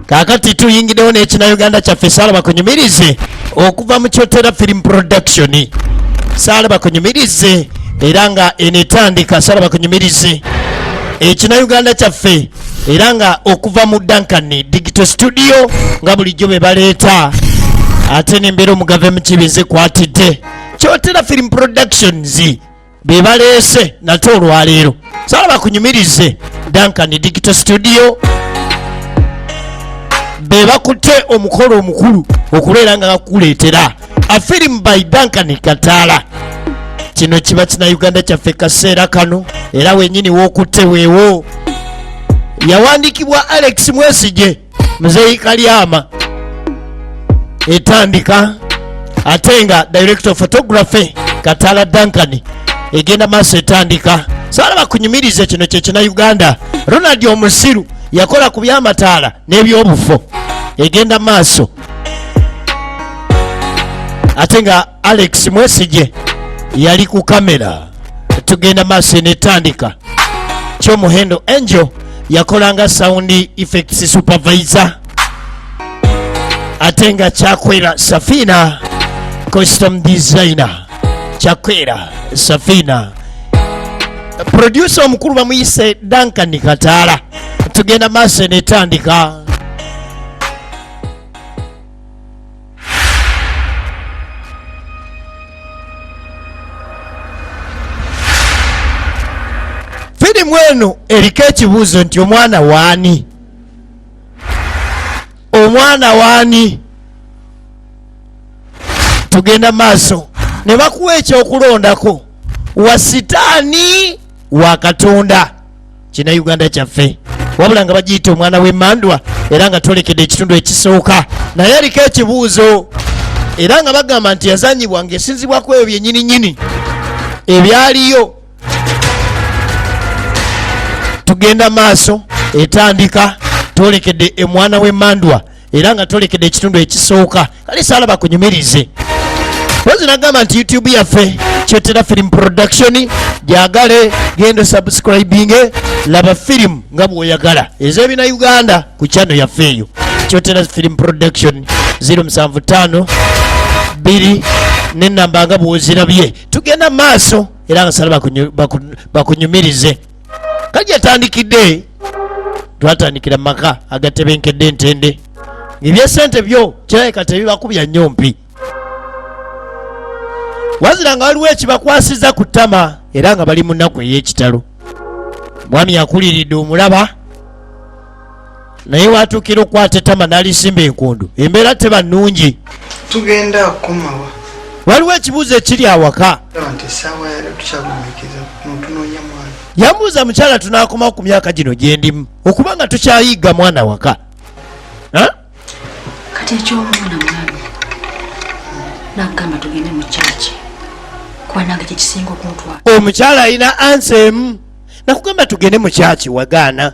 kakati tuyingidewo nekina uganda kyaffe saalaba kunyumirize okuva mu kyotera film production saalaba kunyumirize era nga enetandika saalaba kunyumirize ekina eh, uganda kyaffe era nga okuva mu duncan digital studio nga bulijjo bebaleeta ate nembeera omugave mukibi nze kwatidde kyotera film productions be baleese nate olwaleero sala bakunyumirize duncan digital studio be bakutte omukolo omukulu okubeera nga bakuleetera afirimu by duncan kataala kino kiba kina uganda kyaffe kaseera kano era wenyini wokutte weewo yawandiikibwa alex mwesije muzeeyi kalyama etandika ate nga director of photography katala dankani egenda maaso etandika saala bakunyumirize kino kyekina uganda ronald omusiru yakola ku byamataala n'ebyobufo egenda maaso ate nga alex mwesigye yali ku kamera tugenda maaso enetandika kyomuhendo angel yakolanga sound effects supervisor ate nga kyakwera safina custom designer kyakwera safina producer omukulu bamuyise duncan kataala tugenda maaso enetandika firimu eno eriko ekibuuzo nti omwana waani omwana waani tugenda maaso ne bakuwa ekyokulondako wa sitaani wa katonda kina uganda kyaffe wabula nga bagiyita omwana w'emandwa era nga twolekedde ekitundu ekisooka naye aliko ekibuuzo era nga bagamba nti yazanyibwa ng'esinzibwaku ebyo byenyini nyini ebyaliyo tugenda maaso etandika twolekedde emwana w'emandwa era nga tolekede ekitundu ekisooka kale saala bakunyumirize pozi nagamba nti youtube yaffe kyetera film production gyagale genda subscribing laba film nga bwoyagala ezebina uganda ku channel yaffe eyo kyotera film production 075 2 nenamba nga bwozirabye tugenda maaso era nga sala bakunyumirize baku, baku kati yatandikidde twatandikira mu maka agatebenkedde entende ebyesente byo kirabika tebibakubya nnyo mpi wazira nga waliwo ekibakwasiza ku ttama era nga bali mu nnaku ey'ekitalo mwami yakuliridde omulaba naye watuukira okukwata etama nalisimba enkundu embeera teba nnungi tugenda kukomawa waliwo ekibuuzo ekiri awaka yamuuza mukyala tunakomawo ku myaka gino gyendimu okuba nga tukyayiga mwana waka kati ekyomwana mwami nagamba tugende mu kyaki kuba nange kyekisinga okuntwala omukyala alina ansa emu nakugamba tugende mu kyaki wagaana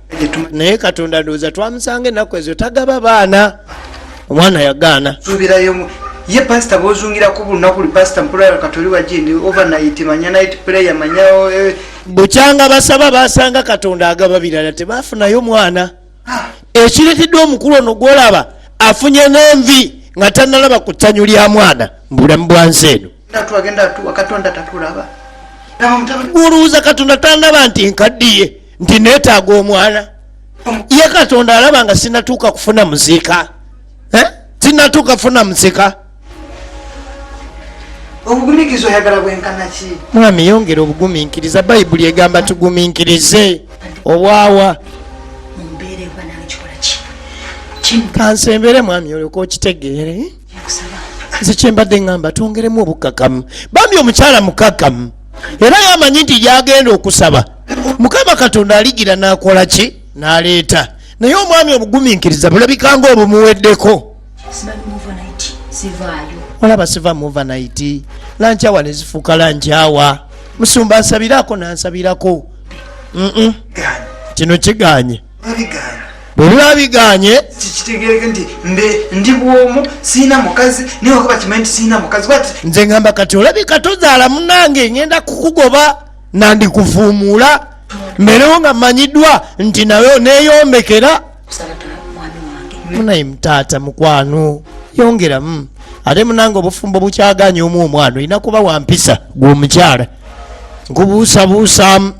naye katonda ndowooza twamusanga ennaku ezo tagaba baana omwana yagaana subirayomu ye pasita bozungira ku bulunaku li pasita mpulala katoli wajindi overnight manya night prayer manya eh. bukyanga basaba basanga katonda agaba birala tebafunayo mwana ah. ekireteddwa omukulu ono gwolaba afunye nenvi nga tanalaba ku ttanyu lya mwana mubulamu bwa nsi eno olowooza katonda tanaba nti nkaddiye nti neetaaga omwana ye katonda alaba nga sinatuuka kufuna muziika eh? sinatuuka kufuna muziika obuguminkiriza oyagala bwenkana ki mwami yongera obuguminkiriza bayibuli egamba tuguminkirize obwawa kansembere mwami olyoka okitegeere nze kyembadde ŋŋamba twongeremu obukkakamu bambi omukyala mukkakamu era yamanyi nti gyagenda okusaba mukama katonda aligira nakola ki naleeta naye omwami obuguminkiriza bulabika nga obumuweddeko olaba siva muva naiti lankyawa nezifuuka lankyawa musumba ansabirako nansabirako kino kiganye bwebula biganye kitegereke nti ndi bwomu siina mukazi naye wakuba kimanyi nti siina mukazi nze ngamba kati olabika tozaala munange ngenda kukugoba nandikuvuumuula mmerewo nga mmanyiddwa nti nawe oneeyombekera munaye mutaata mukwano yongeramu ate munange obufumbo bukyaganya omu omwana olina kuba wampisa gwomukyala nkubuusabuusaamu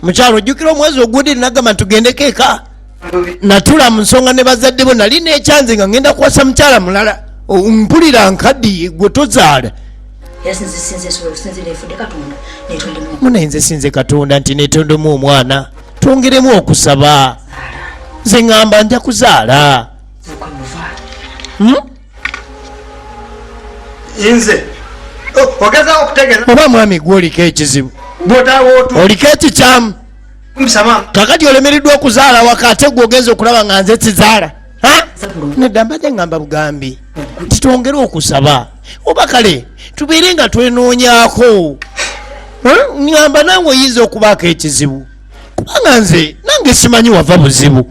mukyalo ojjukira omwezi ogudde nagamba ntugende keeka natula mu nsonga ne bazadde bo nali nekyanze nga ngenda kuwasa mukyala mulala mpulira nkadiye gwe tozaala munaye nze sinze katonda nti netondemu omwana twongeremu okusaba nze ŋamba nja kuzaala hmm? nze oba mwami gwe oliko ekizibu oliko ekikyamu kakati olemereddwa okuzaala waka ate gwe ogenza okulaba nga nze sizaala nedda mbadde ngamba bugambi nti twongere okusaba oba kale tubeere nga twenoonyako ngamba nange oyinza okubaako ekizibu kubanga nze nange simanyi wava buzibu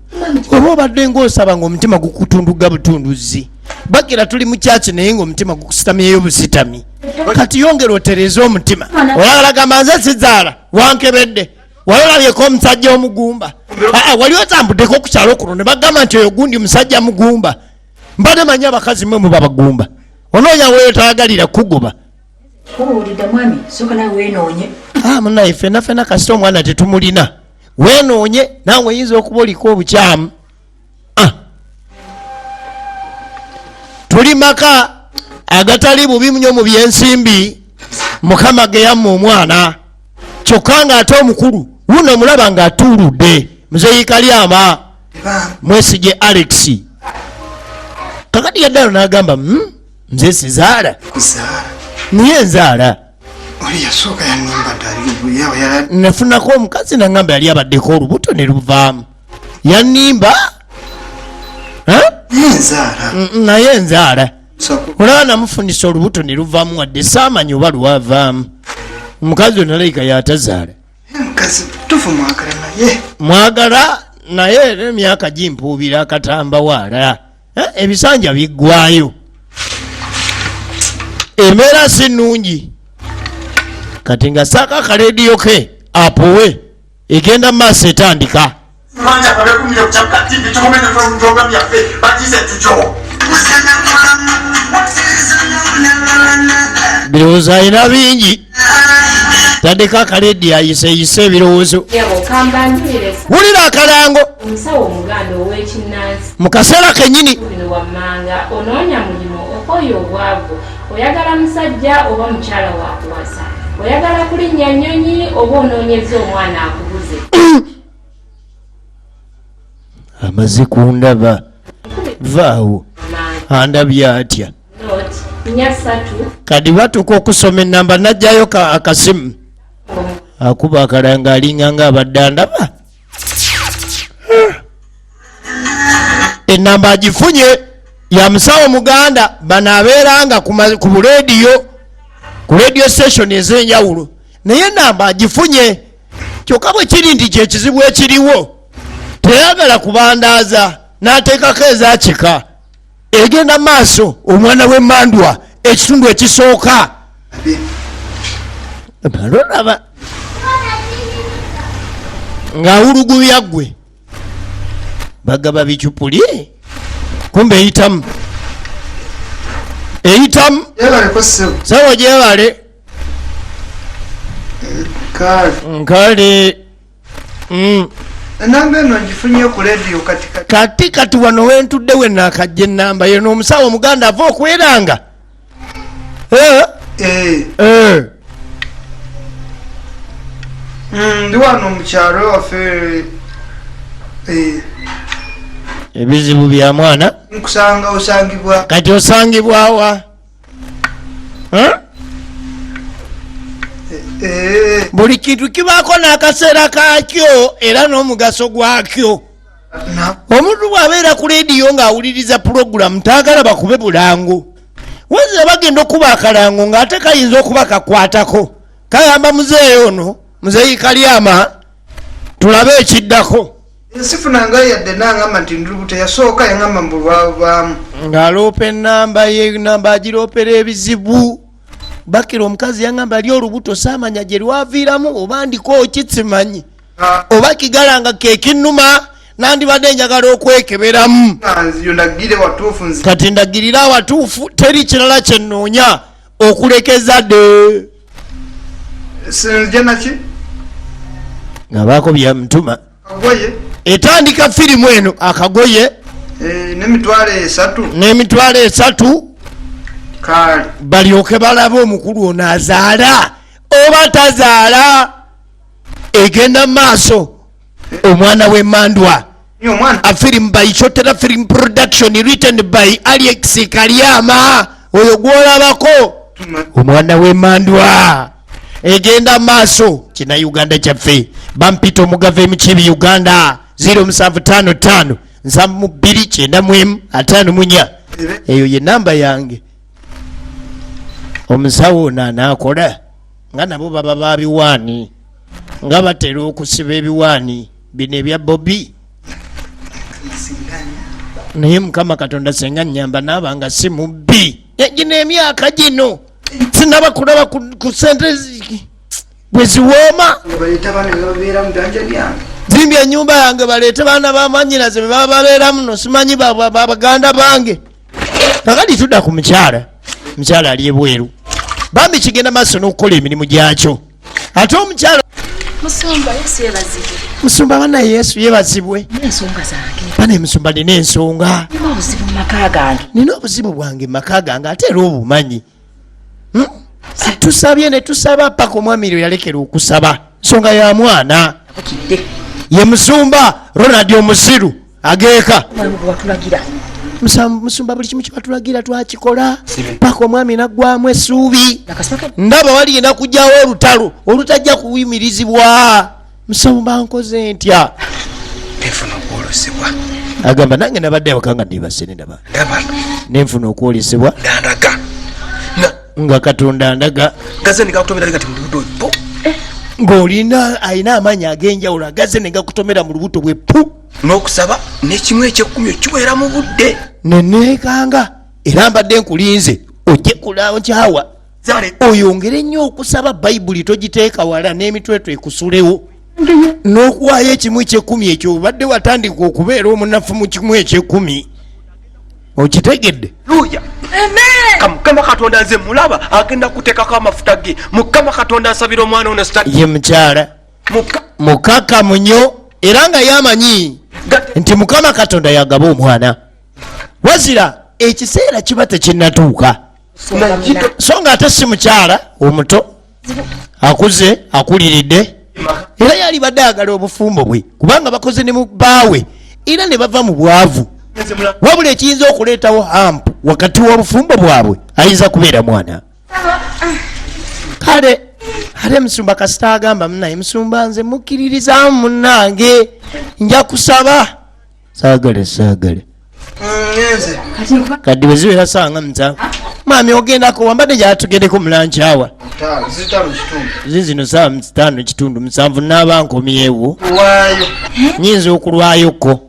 oba obadde ngaosaba nga omutima gukutunduga butunduzi bagira tuli mukyaki naye nga omutima gukusitamyeyo busitami kati yongera otereze omutima olagalagamba nze sizaala wankebedde wali olabyeko omusajja omugumba aa wali otambuddeko ku kyalo kuno ne bagamba nti oyo gundi musajja mugumba mbadde manyi abakazi mwe muba bagumba onoonya weyo tayagalira kukugoba munaye fenafena kasita omwana tetumulina wenoonye naawe oyinza okuba oliko obukyamu ah. tuli maka agatali bubi nyo mu byensimbi mukama geyamma omwana kyokka ng'ate omukulu wuno omulaba ng'atuuludde muzeyikalyama mwesige alex kakati yaddalo n'agamba hmm, nze sizaala niye nzaala nafunako omukazi nangamba yali abaddeko olubuto ne luvaamu yanimba naye enzaala olaba namufunisa olubuto ne luvaamu wadde saamanyi oba lwavaamu omukazi onalaika yatazaala mwagala naye era emyaka gimpuubira akatamba waala eh, ebisanja biggwayo embeera si nnungi kati nga saaka akarediyo ke apowe egenda mu maaso etandika birowoozo alina bingi tandika akaledi ayiseyise ebirowoozo wulira akalango mu kaseera kenyini oyagala musajja oba mukyala wakuwasa oyagala kulinnya nyonyi oba onoonyeza omwana akubuze amaze kundaba vaawo andabye atya kati batuuka okusoma enamba najjayo akasimu akuba akalanga alinga nga abadde andaba enamba agifunye ya musawo muganda bano abeeranga ku bulediyo ku radio station ez'enjawulo naye enamba agifunye kyokka bwe kiri nti kyekizibu ekiriwo teyagala kubandaaza n'ateekako ezakika egenda maaso omwana wemandwa ekitundu ekisooka olaba ng'awulugubya gwe bagaba bicupuli kumbe eyitamu eyitamu sawa gyebale nkale enamba eno ngifunye ku lediyo kati kati kati wano wentudde wenakajja enamba yeno omusawo omuganda ava okweranga eh? Eh. Eh. Mm, ndi wano mukyalo wafe ebizibu bya mwana nkusanga osangibwa kati osangibwawa eh? Eh. buli kintu kibaako n'akaseera kakyo era n'omugaso gwakyo omuntu bw'abeera ku leediyo ng'awuliriza pulogulamu taagala bakube bulango wazira bagenda okuba akalango ng'ate kayinza okuba kakwatako kagamba muzeeyi ono muzeeyi kalyama tulabe ekiddako nsifuna nga yadde nangamba nti ndulubuto yasooka yangamba mbu lwavaamu ng'aloopa enamba ye namba agiroopera ebizibu bakira omukazi yangamba li olubuto saamanya gye lwaviiramu oba ndiko ki simanyi ah. oba kigala nga kekinnuma nandibadde njagala okwekeberamu kati ndagirira awatuufu teri kirala kyennoonya okulekeza de sinzija naki ngabaako byamutuma kagoye etandika firimu eno akagoye eh, nemitwalo esatu nemitwalo esatu kale balyoke balabe omukulu ono azaala oba tazaala egenda mu maaso omwana wemandwa afilm by chotera film production written by alex kalyama oyo gwolabako omwana wemandwa egenda maaso kina uganda kyaffe bampita omugava emukyebi uganda 0755 2 atano munya eyo ye namba yange omusawo ono anaakola nga nabo baba babiwaani nga batera okusiba ebiwaani bino ebya bobi naye mukama katonda senga nyamba naaba nga si mubbi egino emyaka gino sinaba kulaba ku sente bwe ziwooma zimbye enyumba yange baleete baana bamanyiraze bebaba babeeramu no simanyi babaganda bange kakati tudda ku mukyala mukyala ali ebweru bambi kigenda maaso n'okukola emirimu gyakyo ate omukyalo musumba bana yesu yebazibwe bana emusumba nina ensonga nina obuzibu bwange mumaka gange ate era obumanyi hmm? tusabye netusaba paka omwami ro yalekera okusaba nsonga ya mwana ye musumba ronald omusiru ageeka musumba buli kimu kibatulagira twakikola paka omwami naggwamu esuubi ndaba wali yena kugyawo olutalo olutajja kuyimirizibwa musumba nkoze ntya agamba nange nabadde awaka nga ndibasene ndaba nenfuna okwolesebwa nga katonda ndaga ng'olina alina amaanyi ag'enjawulo agaze ne gakutomera mu lubuto bwe pu n'okusaba n'ekimu ekyekkumi okiweera mu budde neneekanga era mbadde nkulinze ojje kulankyawa oyongere nnyo okusaba bayibuli togiteeka wala n'emitweto ekusulewo n'okuwaayo ekimu ekyekkumi ekyo obadde watandika okubeera omunafu mu kimu ekyekkumi okitegedde mukama katonda nze mulaba agenda kuteekako amafuta ge mukama katonda asabira omwana ono ye mukyala mukakamu nnyo era nga yamanyi nti mukama katonda yagaba omwana wazira ekiseera kiba tekinatuuka so nga ate si mukyala omuto akuze akuliridde era yalibadde ayagala obufumbo bwe kubanga bakoze ne mu baawe era ne bava mu bwavu wabula ekiyinza okuleetawo hampu wakati w'obufumbo bwabwe ayinza kubeera mwana kale ate musumba kasita agamba munaye musumba nze mukkiririzamu munange nja kusaba saagale saagale kati bweziwera sanga muta mami ogendako wambadde gyatugendeko mulancawa zizino saa mutaano kitundu musanvu naaba nkomyewo nyinza okulwayoko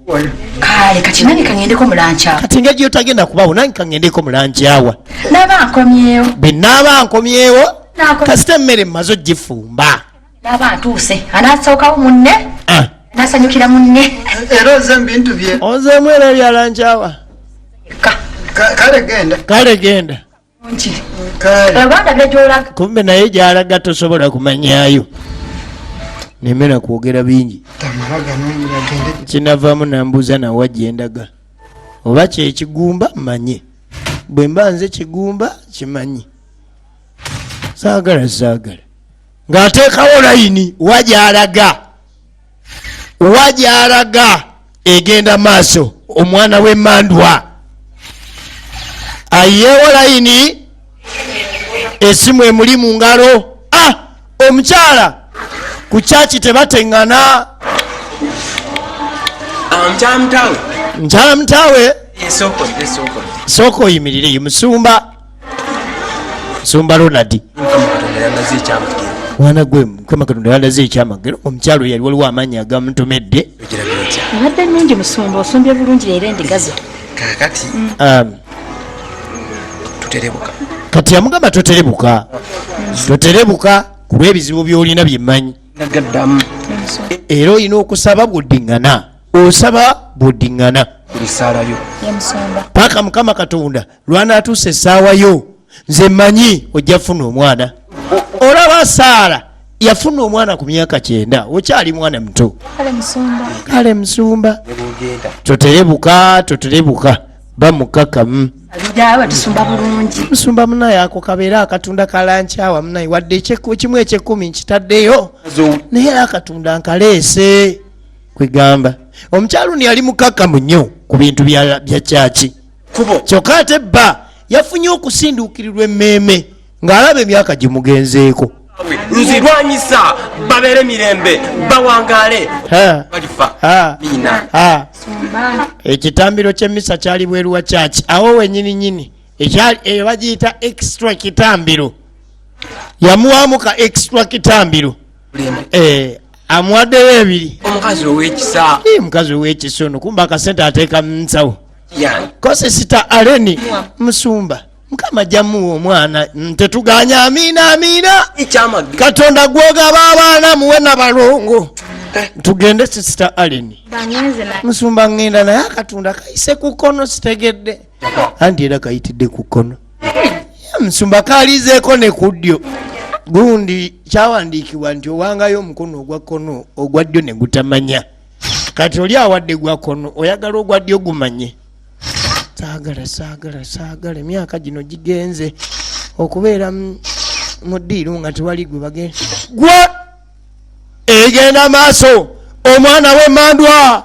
kati nga gyotagenda kubawo nange kangendeko mulancawa naba nkomyewo bwe naaba nkomyewo Naako- kasita emmere mmaze ogifumba naba atuuse anasookawo munne Ah. nasanyukira munne era oze mubintu bye onzeemu era ebyalancawa Ka- Ka- kale genda kale genda nki kale abanda begyolaga kumbe naye gyalaga tosobola kumanyayo nemera kwogera bingi tamala ganongira gende kinavamu nambuuza nawa gyendaga oba kyekigumba manye bwe mba nze kigumba kimanyi saagala saagala ng'ateekawo layini wa gy'alaga wa gy'alaga egenda maaso omwana w'emmandwa ayeewo layini esimu emuli mu ngalo ah, omukyala ku kyaki tebateŋŋana nkyala mutaawe sooka oyimirire ye musumba musumba ronadi mwana gwe mukama katonda yandaze ekyamagero omukyalo yali waliwo amaanyi agamutomedde obadde nungi musumba osombye bulungi leero endigazo kakati um, tuterebuka kati yamugamba toterebuka toterebuka kuba ebizibu byolina byemanyi era olina okusaba bwodiŋŋana osaba bwodiŋŋana paka mukama katonda lwanaatuusa essaawa yo nze manyi ojja funa omwana olaba saala yafuna omwana ku myaka kyenda okyali mwana muto kale musumba toterebuka toterebuka bamukakamu musumba munaye ako kabeera akatunda kalankyawa munaye wadde kimu ekyekumi nkitaddeyo naye era akatunda nkaleese kwegamba omukyaluni yali mukakamu nnyo ku bintu bya kyaki kubo kyokka ate bba yafunye okusinduukirirwa emmeeme ng'alaba emyaka gimugenzeeko nzirwanyisa babeere mirembe bawangaale ekitambiro ky'emmisa kyali bweru wa kyaki awo wenyini nyini eyo bagiyita extra kitambiro yamuwamuka extra kitambiro eh, amuwaddeyo ebiri omukazi owekisa eh, mukazi owekisa ono kumba akasente ateeka munsawo kosesita aleni musumba mukama jamuwa omwana tetuganya amiina amiina katonda gwogaba abaana muwe nabalongo eh. tugende sisita aleni musumba ngenda naye akatunda kaise kukono sitegedde anti era kayitidde ku kkono musumba kaalizeeko ne ku ddyo gundi kyawandiikibwa nti owangayo omukono ogwa kkono ogwa ddyo ne gutamanya kati oli awadde gwa kkono oyagala ogwa ddyo gumanye saagala saagala saagala emyaka gino gigenze okubeera mu ddiiru nga tewali gwe bagenda gwa egenda maaso omwana w'emandwa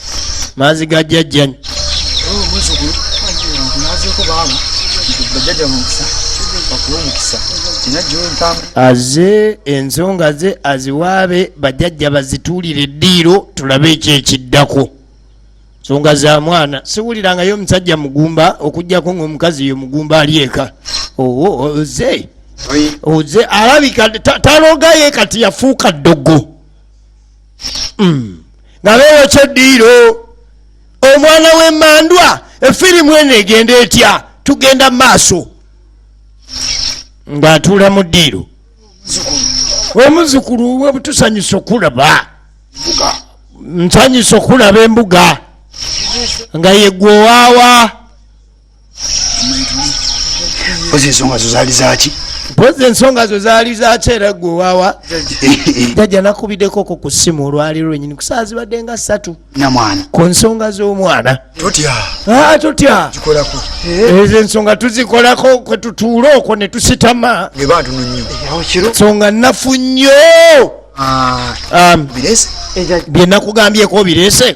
maazi ga jjajjanyi aze ensonga ze aziwaabe bajajja bazituulire eddiiro tulabe ekyo ekiddako nsonga za mwana siwulirangayo omusajja mugumba okugjako ngaomukazi yo mugumba ali eka oze oze alabika talogaye kati yafuuka ddogo hmm. nga beeyokya eddiiro omwana w'emandwa efirimu eno egenda etya tugenda mu maaso ng'atuula mu ddiiro omuzukulu we butusanyusa okulaba nsanyusa okulaba embuga nga yegwe owaawa mpozi ensonga zo zaali zaki mpozi ensonga zo zaali zaki era gwe wawa jajja nakubidekoko ku simu olwaliro lwenyini kusaa zibadde nga satu namwana ku nsonga z'omwana totya ah, totya kikolako eh. ezo ensonga tuzikolako kwe tutuula okwo ne tusitama ngebantuno nnyo eh, nsonga nafu nnyo ah. um, eh, byenakugambyeeko obirese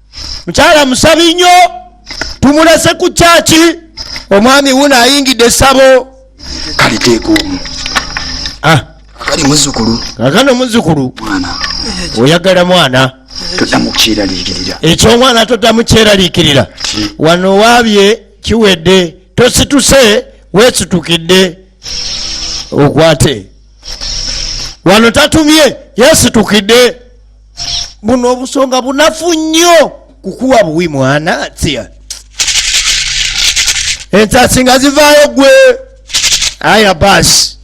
mukyala musabi nnyo tumulese ku kyaki omwami wuno ayingidde esabo kaliteeka omu ah. akali muzukulu kakano muzukulu oyagala mwana ekyomwana todamu kyeralikirira wano wabye kiwedde tosituse wesitukidde okwate wano tatumye yesitukidde buno obusonga bunafu nnyo kukuwa buwi mwana tia ensasi nga zivaayo gwe aya basi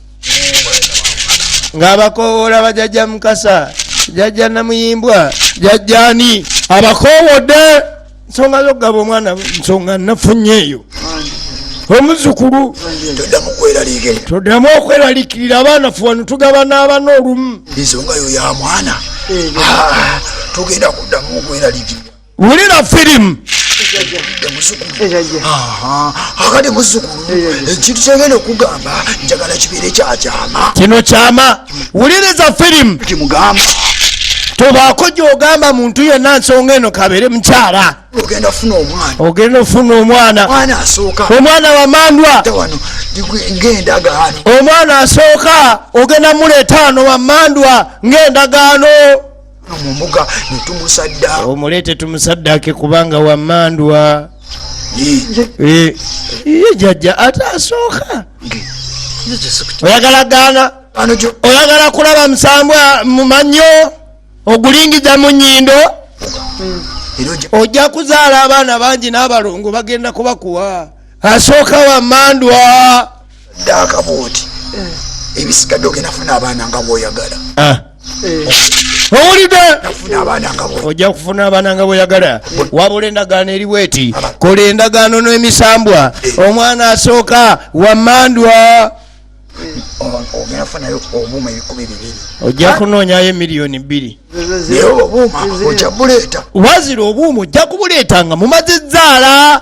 ng'abakowoola bajajja mukasa jajja namuyimbwa jajjani abakowodde nsonga zokugaba omwana nsonga nafunye eyo omuzukulu todamu okweralikirira abaana fuwanu tugaba n'abana olumu ensonga yo ya mwana ah, tugenda kudamu okweralikirira wulira firimu akati muzukulu ekintu kyegenda okugamba njagala kibeere kyakyama kino kyama wuliriza firimu kimugamba tobaako gyogamba muntu yenna nsonga eno kabere mukyala ogenda ofuna omwana ogenda ofuna omwana mwana asooka omwana wamandwa wano ngendagaano omwana asooka ogenda muleeta wano wamandwa ng'endagaano mu mbuga ne tumusaddaako omuleete tumusaddaake kubanga wamandwa ye jajja ate asooka oyagala gaana oyagala kulaba musambwa mu mannyo ogulingiza mu nyindo ojja kuzaala abaana bangi n'abalongo bagenda kubakuwa asooka wamandwa ddaaka bwoti eh. ebisigadde ogenda funa abaana nga bwoyagala ah. eh. owulidde ojja kufuna abaana nga bwoyagala wabula endagaano eriwo eti kola endagaano n'emisambwa eh. omwana asooka wamandwa ojja kunoonyayo emiliyoni bbiri wazira obuuma ojja kubuleeta nga mumaze zzaala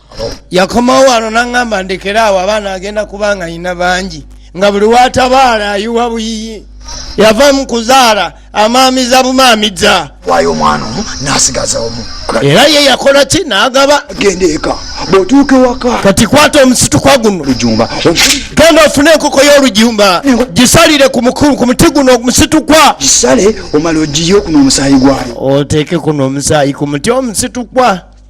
yakomawo wano naŋŋamba ndekera awo abaana agenda kuba nga yina bangi nga buli watabaala ayiwa buyiyi yava mu kuzaala amaamiza bumaamiza wayo omwana omu nasigaza omu era ye yakola ki nagaba genda eka bwotuuka ewaka kati kwata omusitukwa guno lujumba genda ofune enkoko y'olujumba gisalire ku muti guno omusitukwa gisale omala ogiye okuno omusaayi gwayo oteeke kuno omusaayi ku muti omusitukwa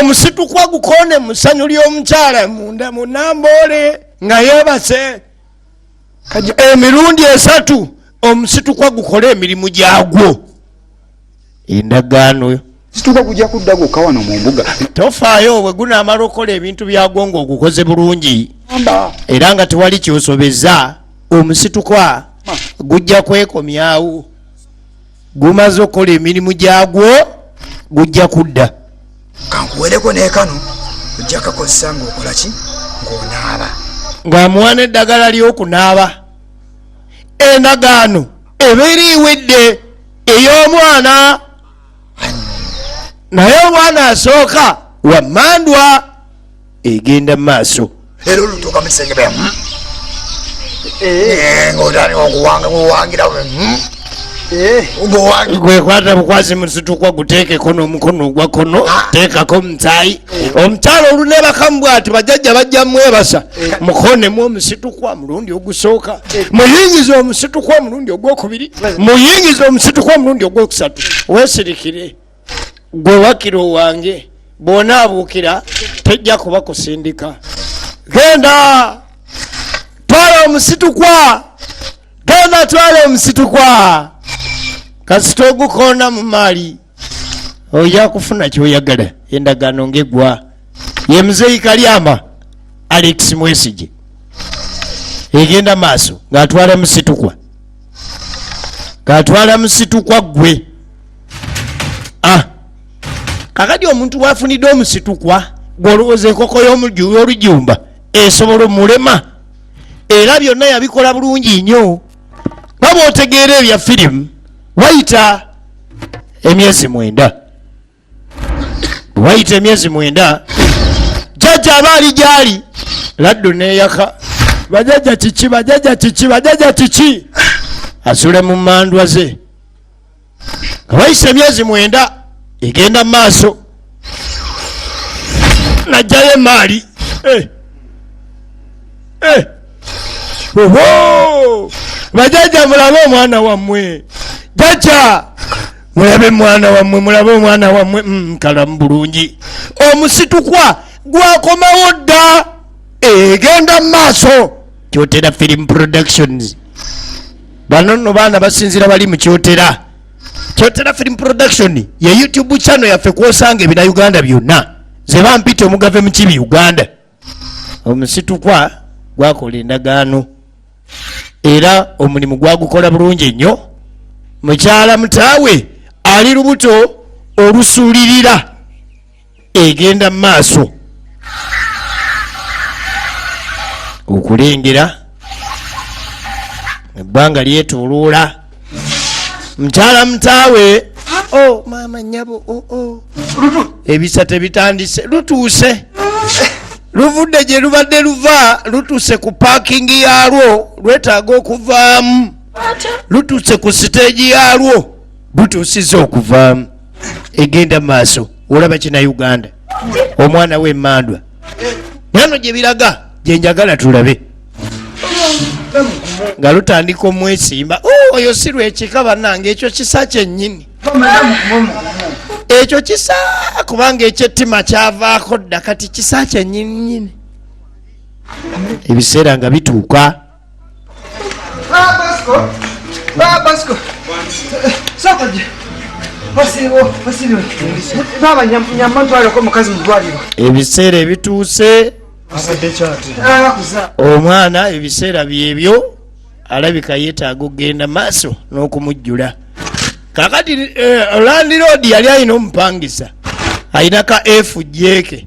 omusitukwa gukonde musanyu lyomukyala munda munamboole nga yebase emirundi esatu omusitukwa gukole emirimu gyagwo endagaano yo situka kujja kudda gwokka wano mu mbuga tofaayo obwe gunaamala okukola ebintu byagwo nga ogukoze bulungi era nga tewali kyosobeza omusitukwa gujja kwekomyawo gumaze okukola emirimu gyagwo gujja kudda kankuwereko nekano ojja kakozesa ngaokola ki ngaonaaba ng'amuwa n'eddagala ly'okunaaba endagaano ebeera ewedde ey'omwana naye omwana asooka wammandwa egenda maaso era olutuuka mu kisenge bya hmm? eh. eh, ngaotandika okuwanga kuwangira hmm? eh. gwekwata bukwasi musitukwa guteekeko n'omukono ogwa kono ah. teekako omusayi omukyalo olunebakamu bwati bajajja bajja mwebasa mukonemu omusitukwa omulundi ogusooka muyingiza omusitukwa omulundi ogwokubiri muyingiza omusitukwa omulundi ogwokusatu wesirikire gwe wakira owange bwona abuukira tejja kuba kusindika genda twala omusitukwa genda twala omusitukwa kasita ogukoona mu maali oja kufuna kyoyagala endagaano ngegwa ye muzeeyi kalyama alex mwesigi egenda maaso ng'atwala musitukwa ng'atwala musitukwa ggwe ah. kakati omuntu wafunidde omusitukwa gwolowooza enkoko y'olujumba esobola omulema era byonna yabikola bulungi nnyo baba otegeera ebya firimu wayita emyezi mwenda wayita emyezi mwenda jajja aba ali gyali laddu neyaka bajaja kiki bajaja kiki bajaja kiki asule mu mandwa ze nga wayise emyezi mwenda egenda mu maaso najjayo emaali eh. eh. bajajja mulabe omwana wammwe jajja mulabe mwana wammwe mulabe omwana wammwe mm, kalamu bulungi omusitukwa gwakomawo dda egenda mu maaso kyotera film productions bano nno baana basinzira bali mu kyotera kyotera film production ye youtube channel yaffe kwosanga ebina uganda byonna zebampita omugave mukibi uganda omusitukwa gwakola endagaano era omulimu gwagukola bulungi nnyo mukyala mutaawe ali lubuto olusuulirira egenda maaso okulengera ebbanga lyetoloola mukyala mutaawe o oh, maama nyabo o oh, o oh. ebisa tebitandise lutuuse luvudde gye lubadde luva lutuuse ku paakingi yaalwo lwetaaga okuvaamu lutuuse ku siteegi yaalwo butuusiza okuvaamu egenda maaso olaba kina uganda omwana we emandwa nano gyebiraga gyenjagala tulabe nga lutandika omwesimba oh, oyo si lwekika banange ekyo kisa kyenyini ekyo kisa kubanga ekyettima kyavaako dda kati kisa kyenyininyini ebiseera nga bituuka ebiseera ebituuse omwana ebiseera byebyo alabika yetaaga okugenda maaso n'okumujjula kakati eh, landilodi yali alina omupangisa alina ka fujeke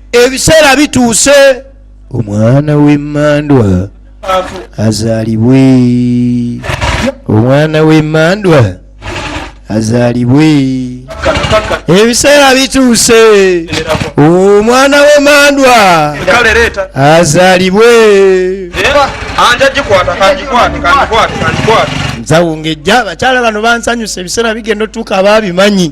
ebiseera bituuse omwana w'emmandwa azaalibwe omwana w'emmandwa azaalibwe ebiseera bituuse omwana w'emmandwa azaalibwe nzawungejja abakyala bano bansanyusa ebiseera bigenda otuuka abaabimanyi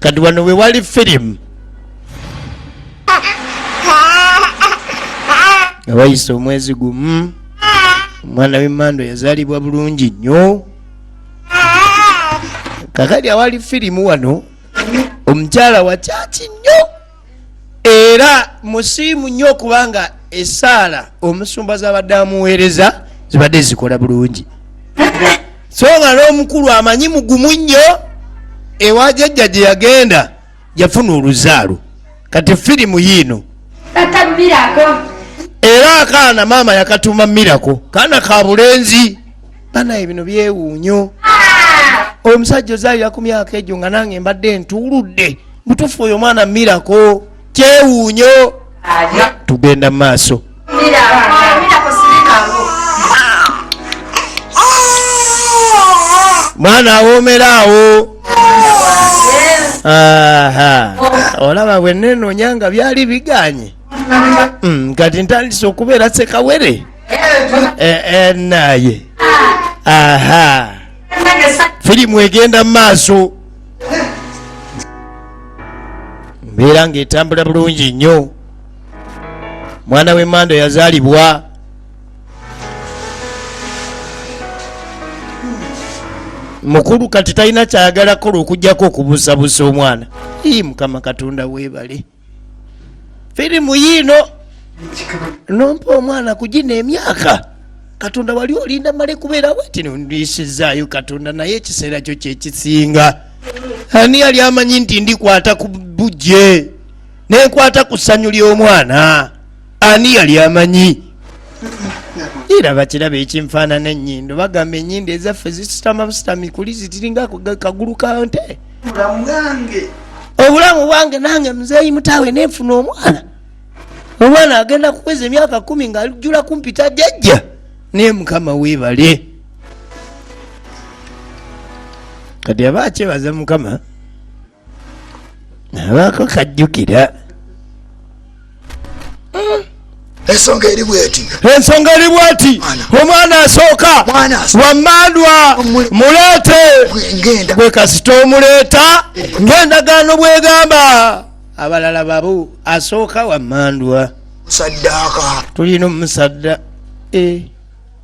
kati wano wewali firimu nga wayise omwezi gumu omwana wemando yazalibwa bulungi nnyo kakati awali firimu wano omukyala wakyaki nnyo era musiimu nnyo okubanga esaala omusumba zabadde amuweereza zibadde zikola bulungi so nga n'omukulu amanyi mugumu nnyo ewa jajja gye yagenda yafuna oluzaalo kati firimu yiino era akaana maama yakatuuma mirako kaana ka bulenzi banaye bino byewuunyo oyo musajja ozaalira ku myaka egyo nga nange mbadde ntuuludde mutufu oyo omwana mirako kyewuunyo tugenda mu maaso mwana awomera awo olaba bwenenonyanga byali biganye mm, kati ntandise okubeera sekawere Eh, eh, naye aha firimu egenda mu maaso mbeera ng'etambula bulungi nnyo mwana w'emmando yazaalibwa mukulu kati talina kyayagala kukola okugyako okubusabusa omwana ii mukama katonda weebale firimu yiino nompa omwana kugina emyaka katonda wali olinda male kubeerawo ti nondisizaayo katonda naye ekiseera kyo kyekisinga ani yali amanyi nti ndikwata ku bujje nenkwata ku ssanyu ly'omwana ani yali amanyi era bakiraba ekinfaanana ennyindo bagamba ennyindo ezaffe zisitama busitami kuli zitiringa kagulu ka nte obulamu bwange nange muzeeyi mutaawe nenfuna omwana omwana agenda kuweza emyaka kumi ngaalijjula kumpita jajja naye mukama weebale kati aba akyebaza mukama abaako kajjukira ensonga eri bweti ensonga eri bweti omwana asooka wamandwa muleete gwe kasita omuleeta ngaendagaano bwegamba abalala babu asooka wamandwa saddaaka tulina omusadda e eh.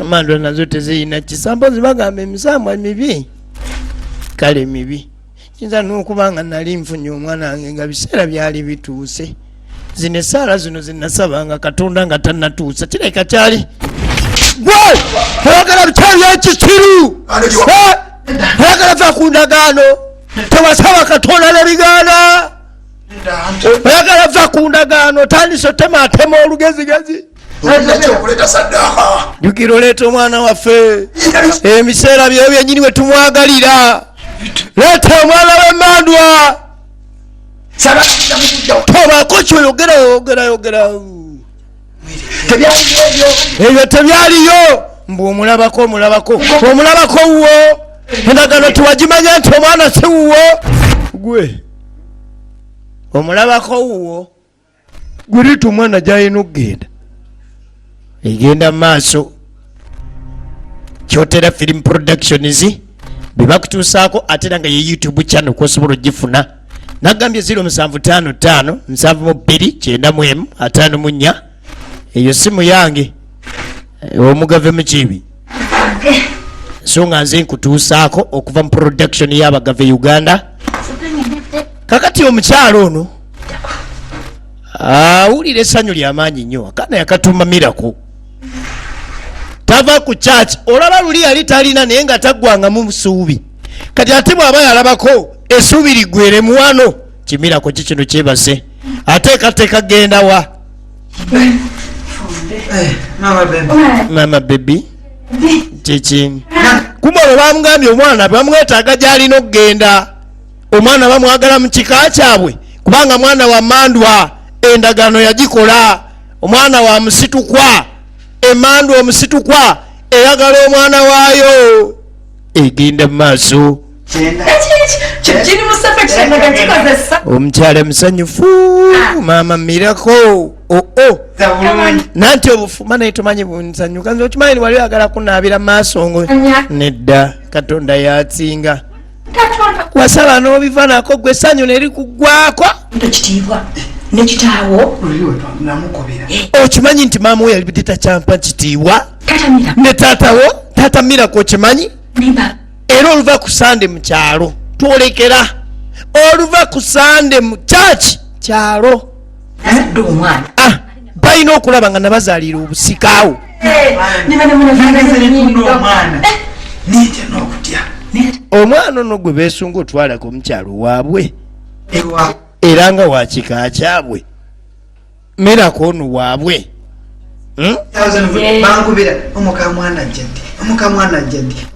emandula nazo tezirina kisa mpozi bagamba emisambwa mibi kale mibi kiyinza n'okuba nga nali nfunye omwana wange nga biseera byali bituuse zino esaala zino zinasaba nga katonda nga tanatuusa kireka kyali gwe oyagala bikyabi ekisiru oyagala va ku ndagaano tewasaba katonda nebigaana oyagala va ku ndagaano otandise otema atema olugezigezi jukira oleeta omwana waffe ebiseera byeyo byenyini we tumwagalira leeta omwana wemandwa tobako kyoyogera yogera yogera ebyo tebyaliyo mbu omulabako omulabako omulabako wuwo endagano tiwagimanya nti omwana si wuwo gwe omulabako wuwo guritu omwana gyalina okugenda egenda maaso kyotera film productions bebakutuusaako ate era nga ye youtube channel kwosobola ogifuna nagambye 075 729 eyo simu yange eh, omugave mukiibi so nga nze nkutuusaako okuva mu production y'abagava e uganda kakati omukyalo ono awulira essanyu lyamaanyi nnyo akana yakatuuma miraku tava ku church olaba luli yali talina naye nga taggwangamu musuubi kati ate bw'aba yalabako esuubi liggweremuwano kimirako ki kino kyebase ateekateeka gendawa mama bebi kiki kuba olwo bamugambye omwana bamwetaaga gyalina okugenda omwana bamwagala mu kika kyabwe kubanga mwana wa mandwa endagaano yagikola omwana wa musitukwa emandwa omusitukwa eyagala omwana waayo egenda mu maaso omukyala musanyufu ah. mama mirako oo oh, oh. nanti obufuma naye tumanyi bunsanyuka nze okimanyi ni wali oyagala kunaabira maaso ngo nedda katonda yatsinga wasala n'obiva nako gwe sanyu neri kugwako ekitiibwa nekitaawo eh. okimanyi nti maama we yalibidde takyampa kitiibwa ne taatawo taata mirako okimanyi era oluva ku sande mu kyalo twolekera oluva ku sande mu kyaki kyalo ah, balina okulaba nga nabazalira obusikaawo omwana ono gwe besunga otwalako omukyalo waabwe era nga wakika kyabwe miracle ono waabwe hmm?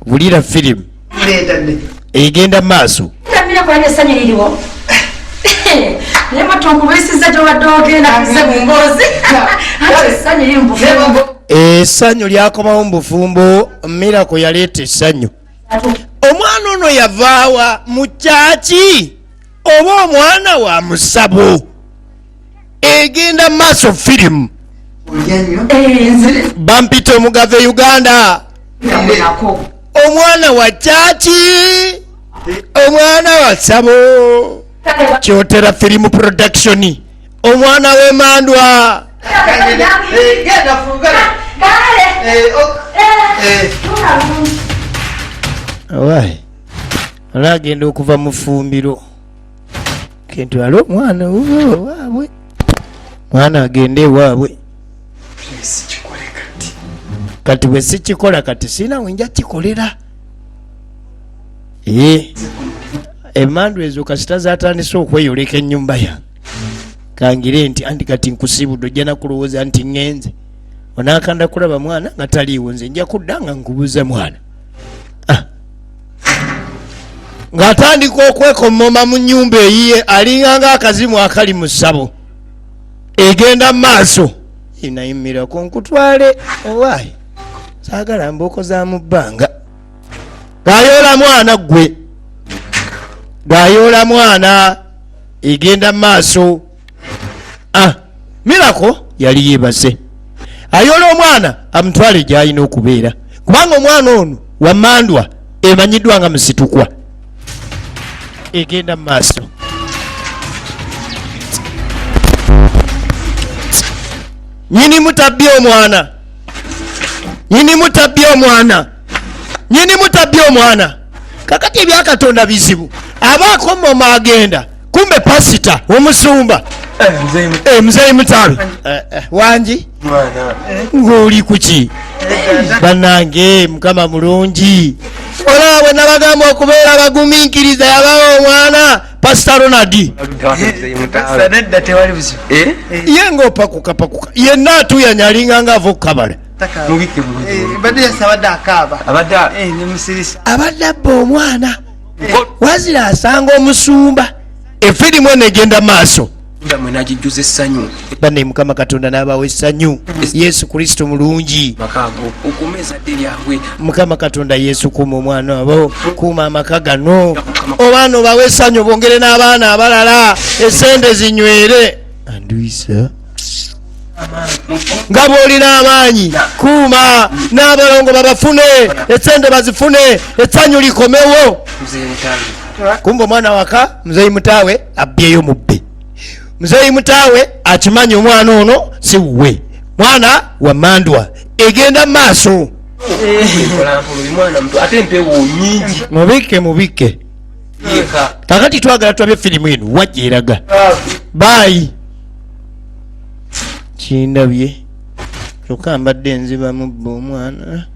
wulira firimu egenda mu maaso esanyu lyakomawo mubufumbo mirako yaleeta esanyu omwana ono yavaawa mukyaki oba omwana wa musabo egenda maaso firimu eh, bampita omugava e uganda omwana wa kyaki omwana wa sabo kyotera firimu production omwana wemandwa olagenda okuva mufumbiro kentwala omwana waabwe mwana agende ewaabwe kati bwe sikikola kati siina wenja kikolera ye emandu ezo kasita zatandise okweyoleka enyumba yange kangire nti anti kati nkusibudde ojja nakulowooza nti ŋenze onakanda kulaba mwana nga taliiwo nze nja kudda nga nkubuza mwana ng'atandika okwekomoma mu nyumba eyiye alinga nga akazimu akali mu ssabo egenda mu maaso enayimirako nkutwale owaayi saagala mbooko za mu bbanga gayoola mwana ggwe gayoola mwana egenda mu maaso ah, mirako yali yebaze ayola omwana amutwale gyalina okubeera kubanga omwana ono wamandwa emanyiddwa nga musitukwa egenda mu maaso nyini mutabbi omwana nyini mutabbi omwana nyini mutabbi omwana kakati ebyakatonda bizibu aba akomoma agenda kumbe pasita omusumba eh, eh, mzei mutabi eh, wangi ng'oli kuki banange mukama mulungi olaba bwe nabagamba okubeera abagumiikiriza yabawo omwana pasita ronald ye ngaopakukapakuka yenna atuyanya alinganga ava okukabala abadde abba omwana wazira asanga omusumba efirimu eno egenda maaso bane mukama katonda n'abawo essanyu yesu kristo mulungi mukama katonda yesu kuuma omwana abo kuuma amaka gano obaana obawo essanyu bongere n'abaana abalala esente zinywere andwisa nga bw'olina amaanyi kuuma n'abalongo babafune esente bazifune essanyu likomewo kumba omwana waka muzeeyi mutaawe abbyeyo mubbi muzeeyi mutaawe akimanyi omwana ono si wuwe mwana wa mandwa egenda mu maaso mubikke mubikke kakati twagala tulabe firimu eno wajja eraga baayi kindabye kyokka mbadde nzibamu bba omwana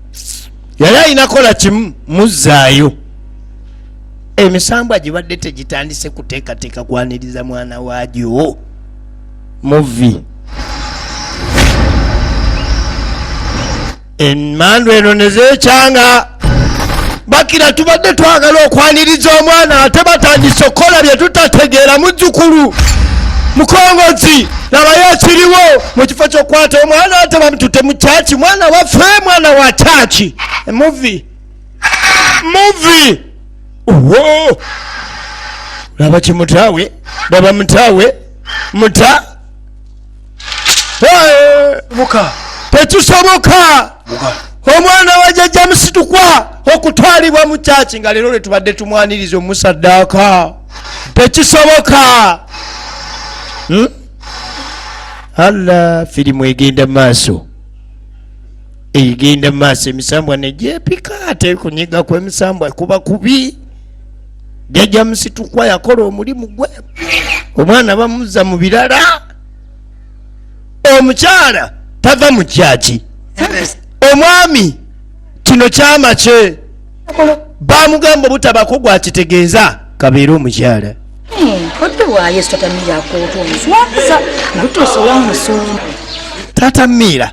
yali alina kola kimu muzzaayo emisambwa gibadde tegitandise kuteekateeka kwaniriza mwana waagyo muvi emmandu eno ne zeecanga bakira tubadde twagala okwaniriza omwana ate batandise okukola bye tutategeera muzzukulu mukongozi nabayo ekiriwo mu kifo kyokukwata omwana ate bamutute mu kyaki mwana waffe mwana wa kyaki emuvi muvi owo laba kimutaawe laba mutaawe muta tekisoboka omwana wa jajja musitukwa okutwalibwa mu kyaki nga leero lwetubadde tumwaniriza omusaddaaka tekisoboka hmm? alla firimu egenda maaso egenda maaso emisambwa negyepika tekunyiga ku emisambwa kuba kubi jajja musitukwa yakola omulimu gwe omwana bamuzza mu birala omukyala tava mu kyaki omwami kino kyama kye bamugamba obutabako gwakitegeeza kabeere omukyala tata miira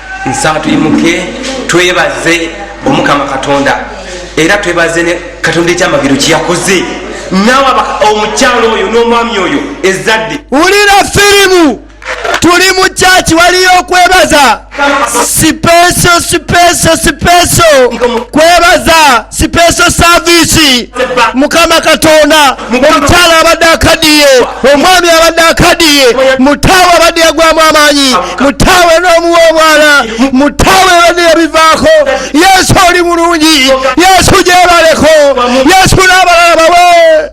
nsaba tuyimuke twebaze omukama katonda era twebaze ne katonda ekyamagero kyeyakoze nawe omukyalo oyo n'omwami oyo ezadde wulira firimu tuli mu kyaki waliyo okwebaza sipeso sipeso sipeso kwebaza sipeso saviisi mukama katonda omukyala abadde akadiye omwami abadde akadiye mutaawe abadde yagwamu amaanyi mutaawe n'omuwa omwana mutaawe abadde yabivaako yesu oli mulungi yesu gyebaleko yesu n'abalala bawe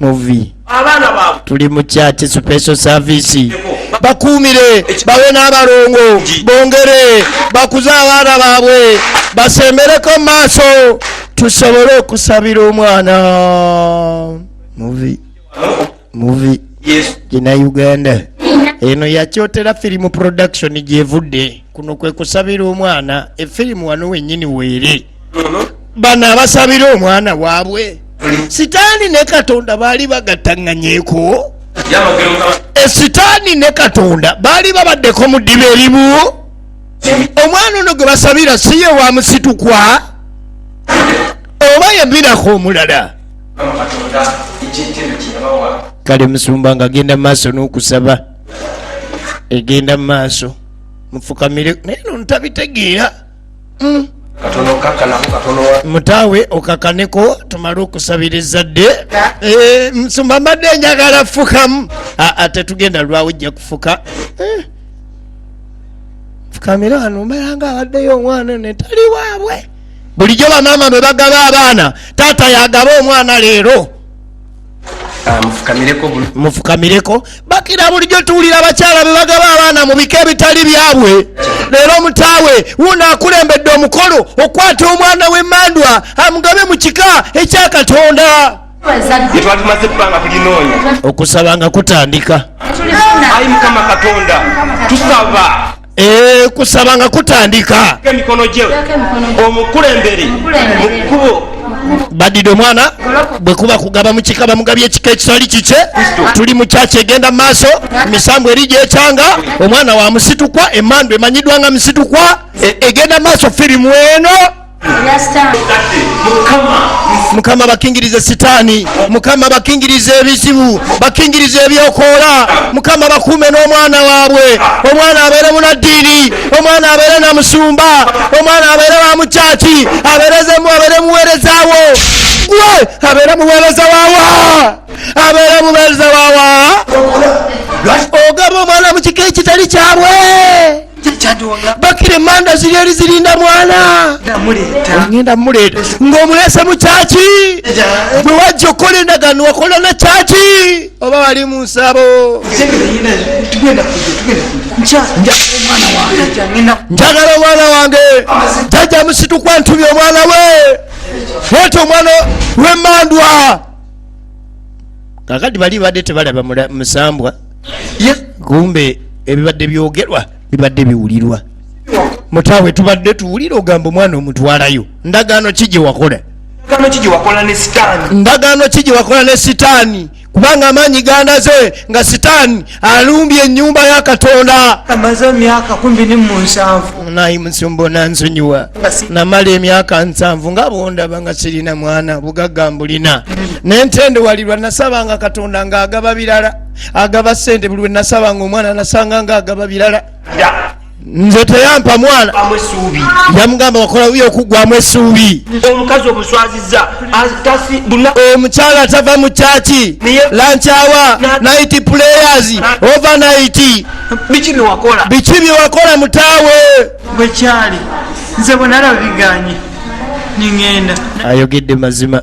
muvi abaana baabwe tuli mu church special service bakuumire bawe n'abalongo bongere bakuze abaana baabwe basembereko mu maaso tusobole okusabira omwana muvi muvi gina uganda eno yakyotera firimu production gyevudde kuno kwe kusabira omwana efirimu wano wenyini weere bano abasabira omwana waabwe sitaani ne katonda baali bagattaŋŋanyeko esitaani eh, ne katonda baali babaddeko mu ddiba erimu omwana ono gwe basabira si ye wa musitukwa oba yabirako omulala kale musumba nga agenda mu maaso n'okusaba egenda mu maaso mufukamire naye no ntabitegeera mm. mutaawe okakaneko tumale okusabira ezzadde eh, nsumba mbadde njagala fukamu ah, ah, tetugenda lwawo ojja kufuka eh. fukamira wano mbalanga abaddeyo omwana netali waabwe bulijjo bamaama bwe bagaba abaana taata yagaba omwana leero Ah, mufukamireko bakira bulijjo tuwulira abakyala bebagaba abaana mu bika ebitali byabwe leero omutaawe wuuno akulembedde omukolo okukwata omwana w'emandwa amugabe mu kika ekya katonda yetwatumaze ebbanga tulinoonya okusaba nga kutandika ayi mukama katonda tusaba Eh, kusaba nga kutandika emikono gye omukulembere mu kkubo badide omwana bwekuba kugaba mukika bamugabye ekika ekitali kikye tuli mukyaki egenda maaso misambu eri gyekyanga omwana wa musitukwa emandu emanyidwa nga musitukwa e, egenda maaso firimu eno mukama bakingirize sitaani mukama bakingirize ebizibu bakingirize ebyokoola mukama bakuume n'omwana waabwe omwana abeere munaddiini omwana abeere na musumba omwana abeere wa mukyaki abeerezemu abeere muweerezawo gwe abeere muweereza wawa abeere muweereza wawa ogaba omwana mu kika ekitali kyabwe bakire manda ziri eri zirinda mwana ogenda muleeta ng'omuleese mu kyaki bwe wajja okukola endagaano wakola na kyaki oba wali mu nsabo njagala omwana wange jajja musitukwa ntubye omwana we ete omwana wemandwa kakati bali badde tebalaba musambwa kumbe ebibadde byogerwa bibadde biwulirwa mutaawe tubadde tuwulira ogamba omwana omutwalayo ndagaano ki gye wakola ndagaano ki gye wakola ne sitaani kubanga amaanyi gandaze nga sitaani alumbye ennyumba ya katonda naye musumba nansonyiwa namala emyaka nsanvu nga bondaba nga sirina mwana bugagga mbulina nentendewalirwa nasabanga katonda ng'agaba birala agaba sente buli wenasaba nga omwana nasanga nga agaba birala nze teyampa mwana yamugamba wakola uyo okugwamu esuubi omukazi omuswaziza omukyala atava mu kyaki lankyawa nit players overnit biki byewakola mutaawe bwekyali nze bwenalabiganye ningenda ayogedde mazima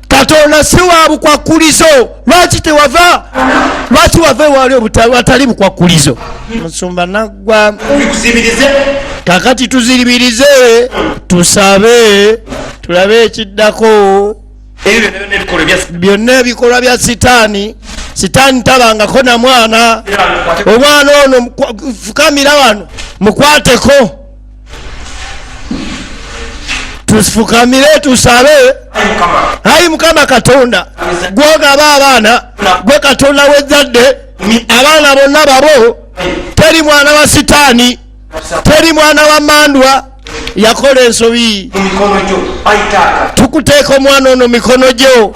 katonda si wa bukwakkulizo lwaki tewava lwaki wava ewaali watali bukwakkulizo musumba naggwa kakati tuziribirize tusabe tulabe ekiddako byonna ebikolwa bya sitaani sitaani tabangako na mwana omwana ono fukamira wano mukwateko tufukamire tusabe ayi mukama katonda gwogaba abaana gwe katonda wezadde abaana bonna babo teri mwana wa sitaani teri mwana wa mandwa yakola ensobi tukuteeka omwana ono mikono gyo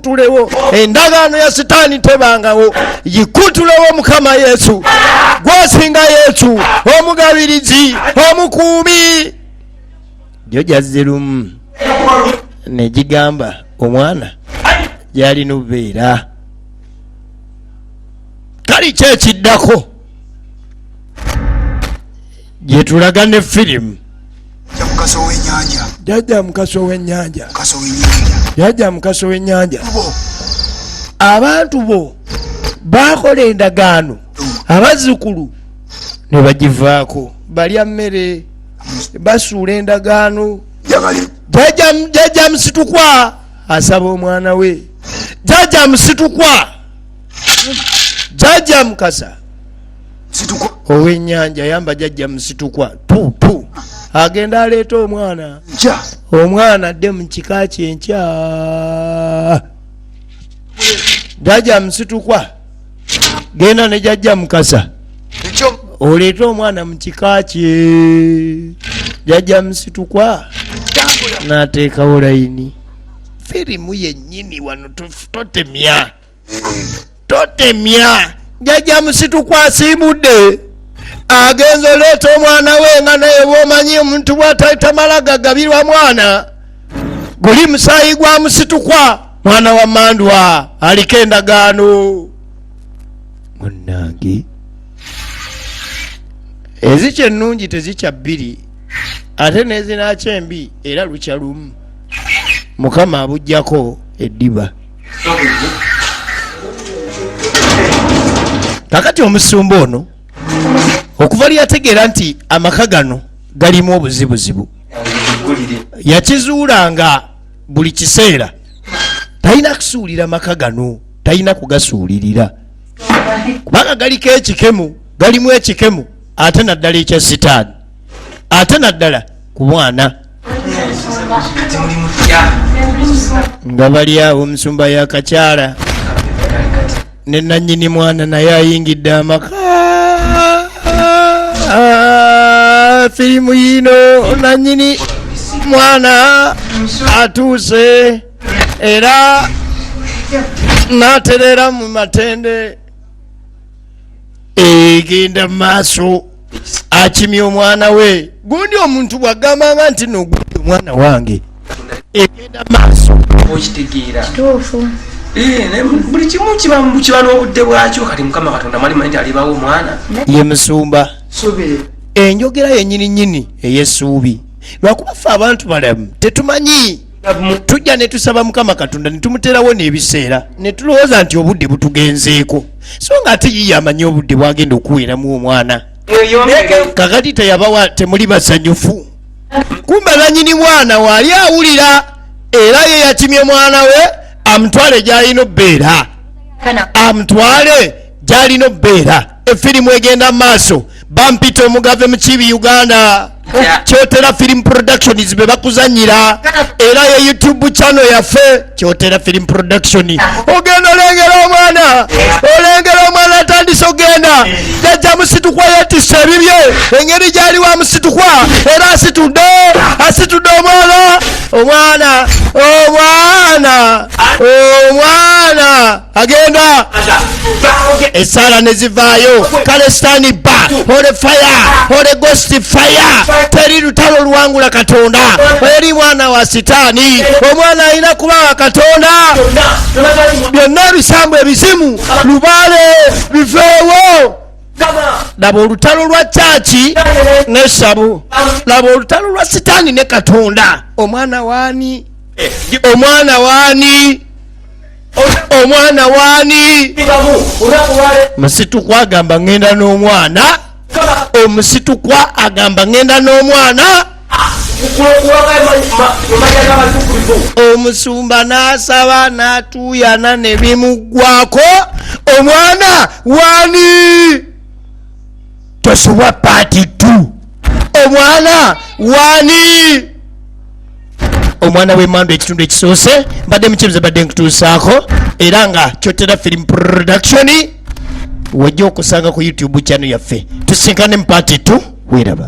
yikutulewo endagaano ya sitaani tebangawo yikutulewo mukama yesu gwasinga yesu omugabirizi omukuumi jo jazzirumu negigamba omwana gyalina obubeera kali kyekiddako gyetulaga ne firimu jajja mukasa owenyanja jajja mukasa owenyanja abantu bo bakola endagaano abazzukulu ne bagivaako balya mmere basuula endagaano jajja musitukwa asaba omwana we jajja musitukwa jajja mukasa owenyanja yamba jajja musitukwa tutu agenda aleeta omwana omwana adde mu kika kyenkya jajja musitukwa genda ne jajja mukasa oleete omwana mu kika kye jajja musitukwa nateekawo layini firimu yennyini wano totemya totemya jajja musituku asiibudde agenza oleeta omwana we nga naye bwomanyi omuntu bwatalitamala gagabirwa mwana guli musaayi gwa musitukwa mwana wa mandwa aliko endagaano munange ezikya ennungi tezikya bbiri ate nezinakya embi era lukya lumu mukama abugyako eddiba kakati omusumba ono okuva lyeyategeera nti amaka gano galimu obuzibuzibu yakizuula nga buli kiseera talina kusuulira maka gano talina kugasuulirira kubanga galiko ekikemu galimu ekikemu ate naddala ekya sitaani ate naddala ku mwana nga bali awo omusumba yakakyala ne nanyini mwana naye ayingidde amaka ah, firimu yino nanyini mwana atuuse era naterera mu matende egenda mu maaso akimya omwana we gundi omuntu bwagambanga nti nogundi omwana wange egenda maaso okitegeera kituufu eh, buli kimu kiba n'obudde bwakyo kati mukama katonda mwalimu nti alibawo omwana ye musumba enjogera yenyini nyini eyesuubi lwakuba ffe abantu balamu tetumanyi tujja ne tusaba mukama katonda ne tumuterawo n'ebiseera ne tulowooza nti obudde butugenzeeko so nga ate yiye amanyi obudde bwagenda okuweeramu omwana kakati teyabawa temuli basanyufu kumba nanyini mwana waali awulira era ye yakimye mwana we amutwale gy'alina obbeera amutwale gyalina obubeera efirimu egenda mu maaso bampita omugave mukibi uganda kyotera film productions be bakuzanyira era ye youtube channel yaffe kyotera film production ogenda olengera omwana olengera omwana atandise ogenda jajja musitukwa yetisa ebibye engeri gyali wa musitukwa era asitudde asitudde omwana omwana omwana omwana agenda esaala ne zivaayo kale sitaani bba ole faya ole gosti faya teri lutalo luwangula katonda eri mwana wa sitaani omwana alina kuba wa katonda byonna ebisambu ebizimu lubaale biveewo laba olutalo lwa kyaki nesabu laba olutalo lwa sitaani ne katonda omwana waani eh, omwana waani omwana waani musitukwa agamba ngenda n'omwana omusitukwa agamba ngenda n'omwana omusumba n'asaba n'atuuyana ne bimuggwako omwana waani tosubwa paati tu omwana waani omwana w'emmandu ekitundu ekisoose mbadde mukyebuze badde nkutuusaako era nga kyotera film production wajja okusanga ku youtube channel yaffe tusinkane mu paati tu weeraba